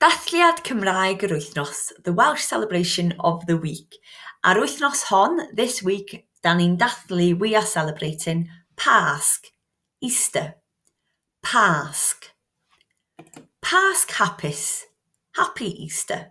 Dathliad Cymraeg yr Wythnos, The Welsh Celebration of the Week. A'r wythnos hon, this week, da ni'n dathlu, we are celebrating, Pasg, Easter. Pasg. Pasg hapus, happy Easter.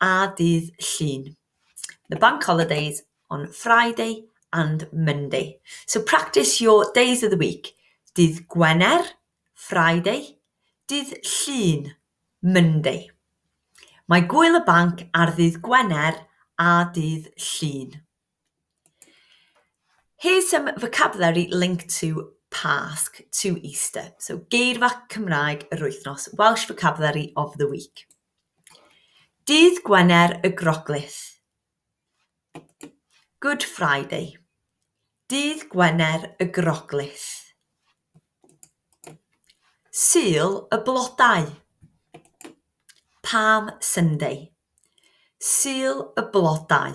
a dydd Llun. The bank holidays on Friday and Monday. So practice your days of the week. Dydd Gwener, Friday. Dydd Llun, Monday. Mae gwyl y banc ar ddydd Gwener a dydd Llun. Here's some vocabulary linked to Pásc, to Easter. So, geirfa Cymraeg yr wythnos, Welsh vocabulary of the week. Dydd Gwener y Groglith, Good Friday. Dydd Gwener y Groglith. Sul y blodau, Palm Sunday. Sul y blodau.